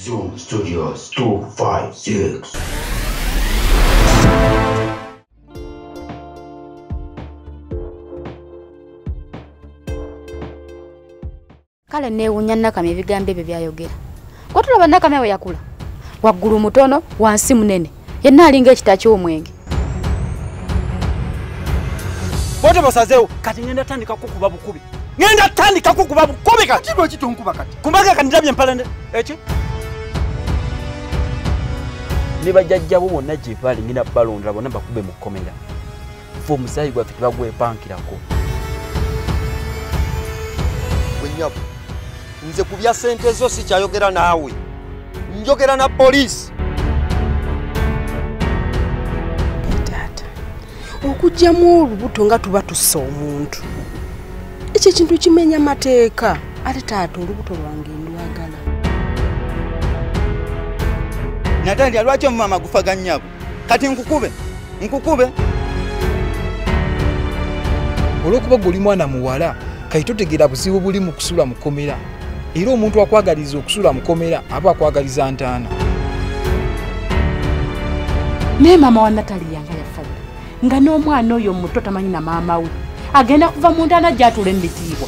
Zoom Studios 256. kale neewunya nakama ebigambo ebyo byayogera Kwa tulaba nakamya we yakula. Waggulu mutono, wansi munene. Yenna alinga ekita ky'omwenge. Bote bosazewo kati ngenda tandika kukuba bukubi. Ngenda tandika kukuba bukubi kati. Kati lwaki tonkuba kati? Kumbaga kati ndabye mpala ne. Eki? Ne bajajja bo bonna gye bali ngenda balondra bonna bakube mu komera. fe omusaayi gwaffe tebagwepankirako wenyabo nze ku bya sente zo sikyayogera naawe njogera na poliisi taata okugyamu olubuto nga tuba tussa omuntu ekyo ekintu kimenya mateeka ate taata olubuto lwange ndwagala natandika lwaki omumama gufaga nyabo kati nkukube nkukube olwokuba gwe oli mwana muwala kati totegeera buzibu buli mu kusula mukomera era omuntu akwagaliza okusula mukomera aba akwagaliza ntaana naye maama wa natali yanga yafa nga n'omwana oyo muto tamanyi na maama we agenda kuva mu ntaana gyatuula emitiibwa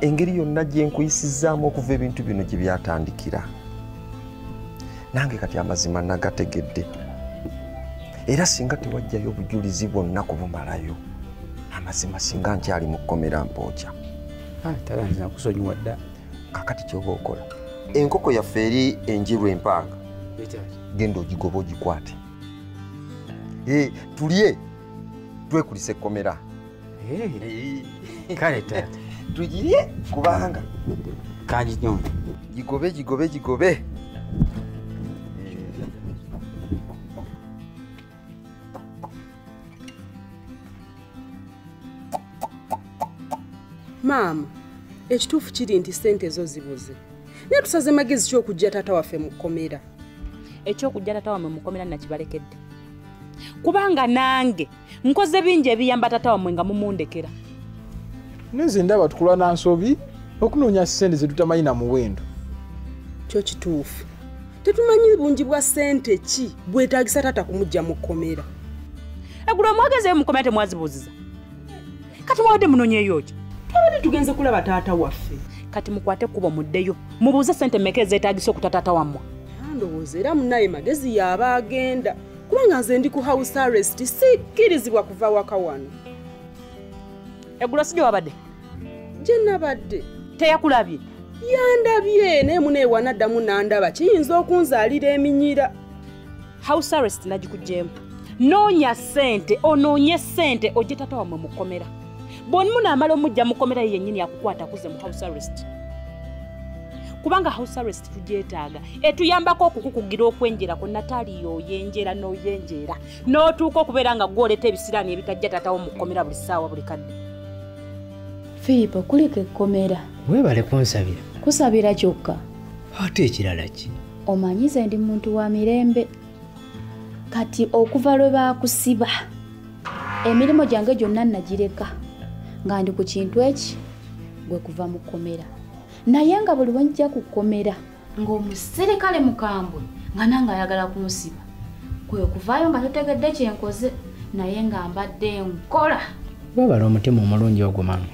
engeri yonna gye nkuyisizzaamu okuva ebintu bino gye byatandikira nange kati amazima nagategedde era singa tewajjayo obujulizi bwonna kubumalayo amazima singa nkyali mu kkomera mpookya ah, taganzinakusonyiwa dda kakati kyoba okola enkoko yaffe eri enjiru empanga genda ogigoba ogikwate eh, tulye twekulisa ekkomera kale tata tugirye kubanga kangi nyo gigobe gigobe gigobe maama ekituufu kiri nti sente ezo zibuze naye tusaze magezi kyokujja taata waffe mu kkomera ekyokujja taata wamwe mu kkomera nakibalekedde kubanga nange nkoze bingi ebiyamba tata wamwe nga mumundekera nze ndaba tukula na nsobi okunoonya sente zetutamanyi na muwendo kyo kituufu tetumanyi bungi bwa sente ki bwetagisa tata kumujja mu kkomera egulu omwagezeyo mukomera temwazibuuziza kati mwabadde munonyeyo ki twabadde tugenze kulaba taata waffe kati mukwate kuba muddeyo mubuuze sente meka ezetagisa okuta taata wammwe ndowooza era munaye magezi yaaba agenda kubanga nze ndi ku house arrest sikkirizibwa kuva waka wano eggulo si gyewabadde gye nabadde teyakulabye yandabye naye muneewanaddamu nandaba kiyinza okunzaalira eminyira house arrest nagikugyemu noonya ssente onoonye ssente ojje tata wamwe mukomera bwonmu naamala omujja mukomera ye yennyini akukwata kuze mu house arrest kubanga house arrest tugyetaaga etuyambako okukukugira okwenjerako nataali yoyenjera noyenjeera n'otuuka okubeera nga gwoleta ebisiraani ebitajja taatawo mu kkomera buli ssaawa buli kadde filipo kulika ekkomera weebale kunsabira kusabira kyokka ate ekirala ki omanyize ndi muntu wa mirembe kati okuva lwe baakusiba emirimu gyange gyonna nagireka nga ndi ku kintu eki gwe kuva mu kkomera naye nga buli wenjja ku kkomera ng'omuserikale mukambwe nga nange ayagala kunsiba kwe kuvaayo nga totegedde kyenkoze naye nga mbadde nkola webala omutima omulungi ogwo mama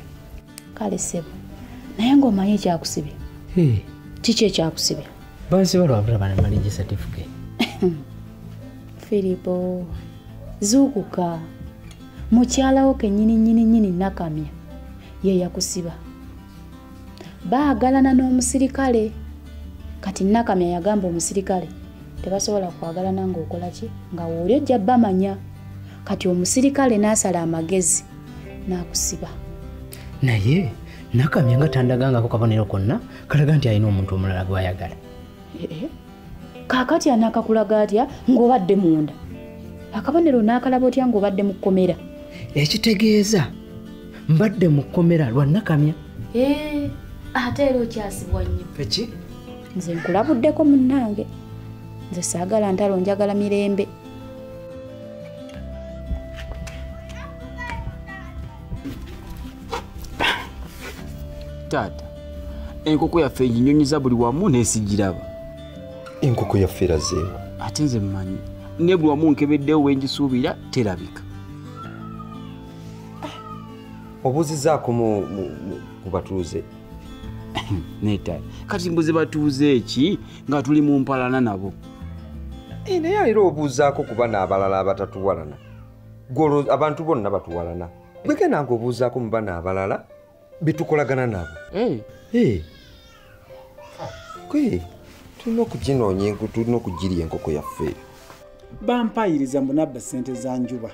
kale sebo naye ng'omanyi ekyakusibya kiki ekyakusibya bansi balwabula bana maliji certificate filipo zuukuka mukyalawo kenyini nyini nyini nakamya ye yakusiba baagalana n'omusirikale kati nakamya yagamba omusirikale tebasobola kwagalana ng'okola ki nga wooli ojja bamanya kati omusirikale n'asala amagezi n'akusiba naye nakamya nga tandagangako kabonero konna kalaga nti alina omuntu omulala gwayagala eh, eh. kakati anakakulaga atya ngaobadde munda akabonero nakalaba otya ngaobadde mu kkomera ekitegeeza mbadde mu kkomera lwanakamya eh, ate era okyasibwa nnyo eki nze nkulabuddeko munnange nze saagala ntalo njagala mirembe taata enkoko yaffe eginyonyiza buli wamu nesigiraba enkoko yaffe erazeemu ate nze mmanyi ne buli wamu nkebeddewo wengisuubira terabika ah, obuzizaako mu batuuze netaata kati mbuze batuuze eki nga tuli mu mpalana nabo eh, naye era obuuzaako kuba naabalala abatatuwalana gwolo abantu bonna batuwalana gweke nange obuuzaako mu bana abalala betukolagana nabo gwe tulina okuginoonya enku tulina okugirya enkoko yaffe bampayiriza mbu nabba ssente za njuba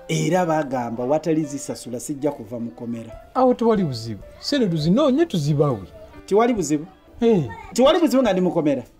era bagamba watali zisasula sijja kuva mukomera awo tewali buzibu sente tuzinoonye tuzibawe tewali buzibu tewali buzibu nga ndi mukomera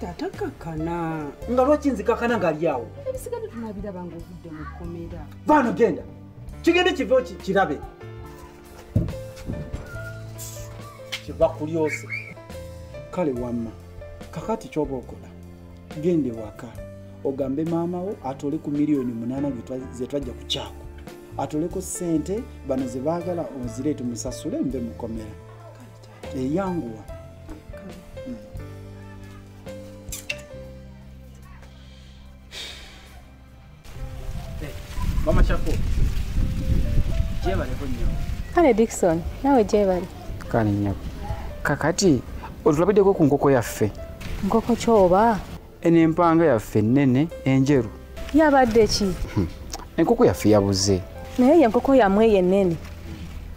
tata kakana nga lwaki nzikakana ngali awo ebisigadde tunabiraba nga ovudde mu kkomera vaano genda kigende kivewo kirabe kiva kulyose kale wamma kakati kyoba okola gende waka ogambe maama wo atole ku miliyoni munaana zetwajja ku kyako atoleko sente bano zebaagala ozireetu musasule nve mukomera eyanguwa bamacako gyebaleko nyo kale dikson nawe gyebali kale nyabo kakati otulabiddeko ku nkoko yaffe nkoko kyoba eno empanga yaffe ennene enjeru yabadde ki hmm. enkoko yaffe yabuze naye ye enkoko yamwe eyo ennene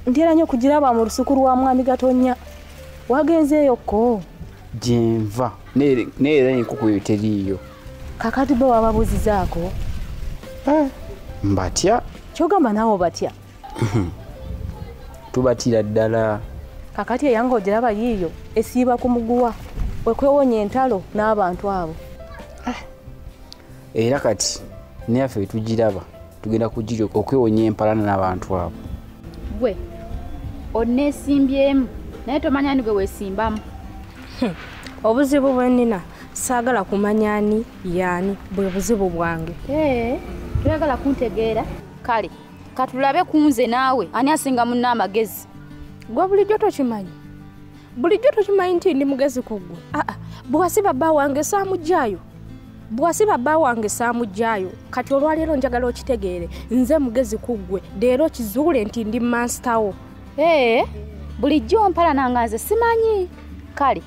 ntera nyo okugiraba mu lusuku lwa mwami gatonya wagenzeeyo ko gyenva naye era enkoko eyo teriiyo kakati bo wababuuzizaako eh, mbatya kyogamba naawe obatya tubatira ddala kakati eyanga ogiraba yiiyo esiiba ku muguwa wekwewonya entalo n'abantu abo eh. era kati neyaffe wetugiraba tugenda kugira okwewonya empalana n'abantu abo gwe onesimbyemu naye tomanya ni gwe wesimbamu hmm. obuzibu bwenina saagala kumanya ani yaani bwe buzibu bwange eh, toyagala kuntegeera kale katulabe kunze naawe ani asinga munna amagezi gwe bulijjo tokimanyi bulijjo tokimanyi nti ndi mugezi ku ggwe aa ah, ah. bwewasi baba wange saamugyayo bwewasi baba wange saamugyayo kati olwaleero njagala okitegeere nze mugezi ku ggwe leero kizuule nti ndi mansitawo ee bulijjo mpalananga nze simanyi kale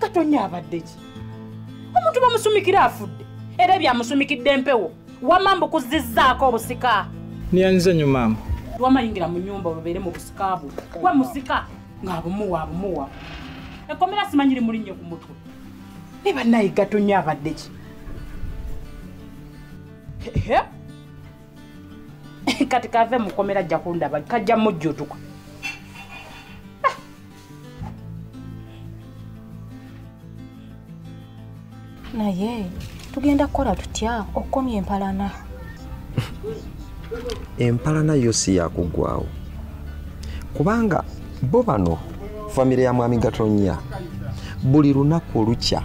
katonya abadde ki omuntu bamusumikira afudde era byamusumikidde empewo wama mbukuzizzaako obusika niyanyiza nyo maama wamayingira mu nyumba olubeere mu busika bwo we musika ng'abumuwa abumuwa ekkomera simanyi limulinnye ku mutwe ne bannaye gatonya abadde ki kati kave mukomera ajja kundaba kajja mujjutuka naye tugenda kukola tutya okukomya empalana empalana yo si yakuggwawo kubanga bo bano famire ya mwami gatonya buli lunaku olukya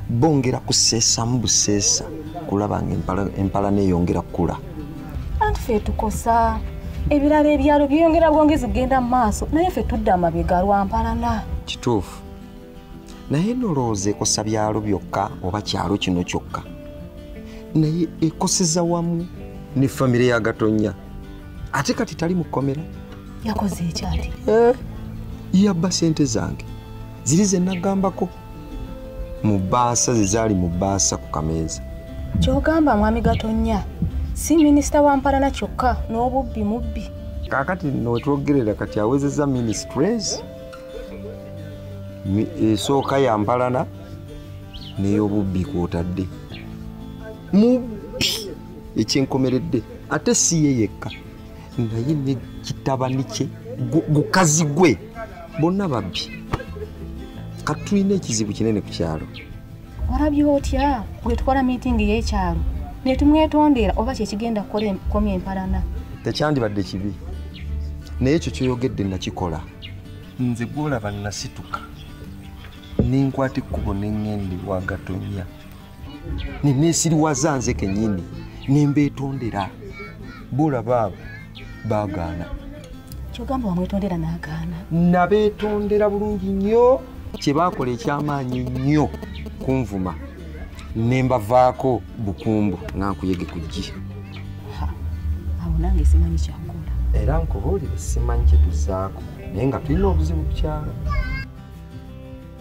bongera kuseesamu buseesa kulaba nga empalana eyongera kukula anti ffe tukosa ebirala ebyalo byeyongera bwongezi kugenda mu maaso naye ffe tudda amabega lwampalana kituufu naye nolowooza ekosa byalo byokka oba kyalo kino kyokka naye ekoseza wamu ne famire ya gatonya ate kati tali mu kkomera yakoze ekyati eh, yabba sente zange ziri zenagambako mu bbaasa ze zaali mu bbaasa ku kameeza kyogamba mwami gatonya si minisita wa mpalana kyokka n'obubbi mubbi kaakati nowetwogerera kati awezeza ministres esooka ya mpalana ney'obubbi kwotadde mubbi ekyenkomeredde ate si ye yekka naye ne kitabani kye gukazi gwe bonna babbi kati tulina ekizibu kinene ku kyalo olabye otya bwetwala miitingi y'ekyalo netumwetondera oba kyekigenda kukomya empalana tekyandibadde kibi naye ekyo kyoyogedde nakikola nze gwolaba nasituka nenkwata ekkubo nengende wagatonya neneesiriwaza nze kenyini nembeetondera boolaba abo baagaana kyogamba wamwetondera naagaana nabeetondera bulungi nnyo kye baakola ekyamaanyi nnyo kunvuma ne mbavaako bukumbu nga nkuyege ku ggi awo nange simanyi kyakola era nkubuulire simanyi kye tuzaako naye nga tulina obuzibu kukyalo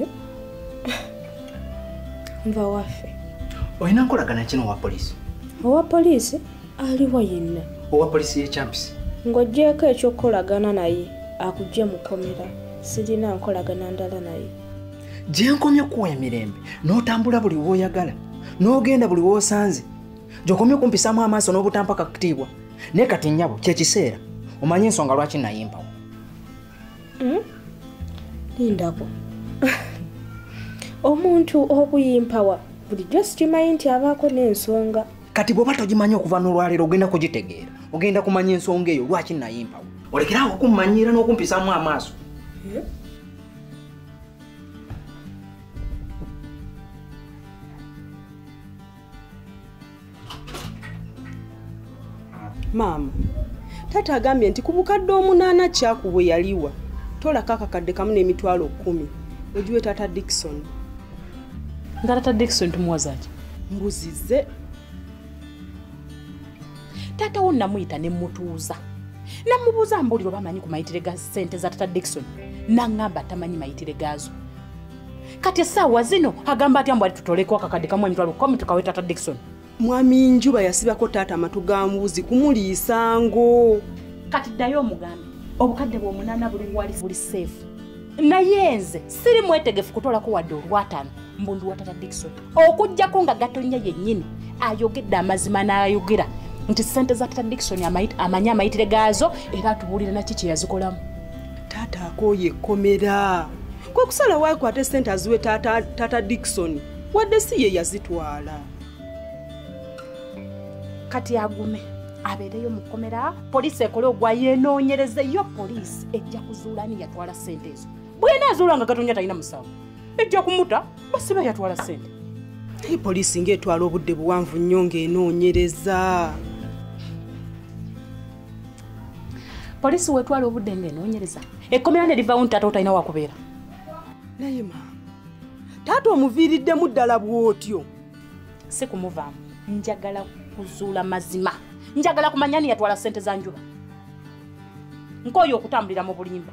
eh? nva waffe olina nkolagana kino owa poliisi owa poliisi aliwa yenna owa poliisi yekyampisi ng'ogyeko ekyokukolagana naye akugye mukomera sirina nkolagana ndala naye gyenkomye okuwa emirembe n'otambula buli woyagala n'ogenda buli wosanze gyokomye okumpisamu amaaso n'obutampaka kutiibwa naye kati nnyabo kyekiseera omanye ensonga lwaki nayimpawo hmm? lindako omuntu okuyimpawa bulijjo sikimanyi nti abaako n'ensonga kati bwoba togimanyi okuva n'olwaleero ogenda kugitegeera ogenda kumanya ensonga eyo lwaki nayimpawo olekerawo okummanyiira n'okumpisamu amaaso eh? maama taata agambye nti ku bukadde omunaana kyaku bwe yaliwa tolako akakadde kamu n'emitwalo kkumi ogiwe taata dikison nga taata dikison tumuwazaki mbuzize taata wo namuyita ne mutuuza namubuuza mbuuliro bamanyi ku mayitire ga ssente za taata dikison naŋŋamba tamanyi mayitire gaazo kati esaawa zino agamba atya mbwali tutoleko akakadde kamu emitwalo kumi tukawe tata dikson mwami njuba yasibako taata amatu ga mbuzi kumuliisa ngo kati ddayo omugambe obukadde bwomunaana buli wali buli seefu naye nze siri mwetegefu kutolako wadde olwataano mbundu wa tata dikson okugjako nga gatonya yennyini ayogedde amazima n'ayogera nti sente za tata dikson amanyi amayitire gaazo era atubuulira naki kyeyazikolamu taata akooye ekkomera kwekusala wakwate sente aziwe tata, tata dikisoni wadde si ye yazitwala kati agume abeereyo mu kkomera poliisi ekole ogwa yeenoonyereze yo poliisi ejja kuzuula ani yatwala sente ezo bwena azuula nga gatonya talina musango ejja kumuta basiba yatwala sente naye poliisi ngaetwala obudde buwanvu nnyo ng'enoonyereza poliisi wetwala obudde nga enoonyereza ekkomera ne livawo nti taata otalina wakubeera naye ma taata omuviiriddemu ddala bw'otyo si kumuvaamu njagala kuzuula mazima njagala kumanya ni yatwala ssente za njuba nkooyo okutambulira mu bulimba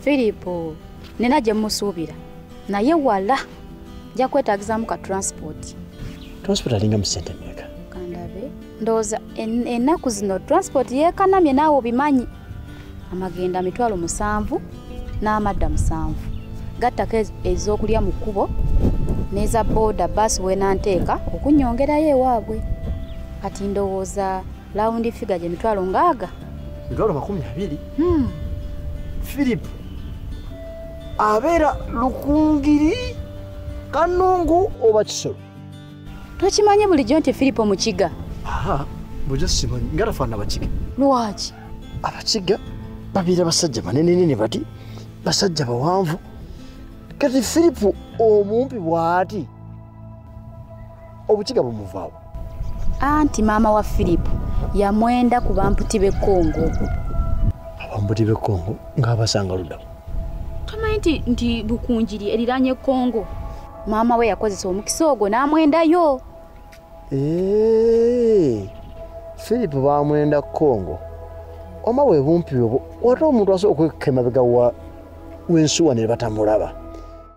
filipo nina gye musuubira naye wala nja kwetagizaamu ka transport transport alinga mu sente meeka kandabe ndowooza ennaku zino transport yeekanamye naawe obimanyi amagenda mitwalo musanvu n'amadda musanvu gattako ez'okulya mu kkubo n'eza booda baasi weenanteeka okunyongerayo ewaabwe kati ndowooza lawundi figa gye mitwalo ngaaga mitwalo makumi abiri hmm. philip abeera lukungiri kanungu oba kisolo tokimanye bulijjo nti philip omukiga bujo simanyi nga tafaana abakiga lwaki abakiga babeera basajja banenenene bati basajja bawanvu kati philip omumpi bwati obukiga bumuvaawo anti maama wa firipu yamwenda ku bamputi b'e kongo abamputi b'e kongo ng'abasanga ludamu tomanyi nti nti bukunjiri eriranye kongo maama we yakozesa omukisa ogwo n'amwendayo firipu bamwenda kongo oma bwe bumpi obwo wate omuntu asobola okwekka emabega w'ensuwa ne batamulaba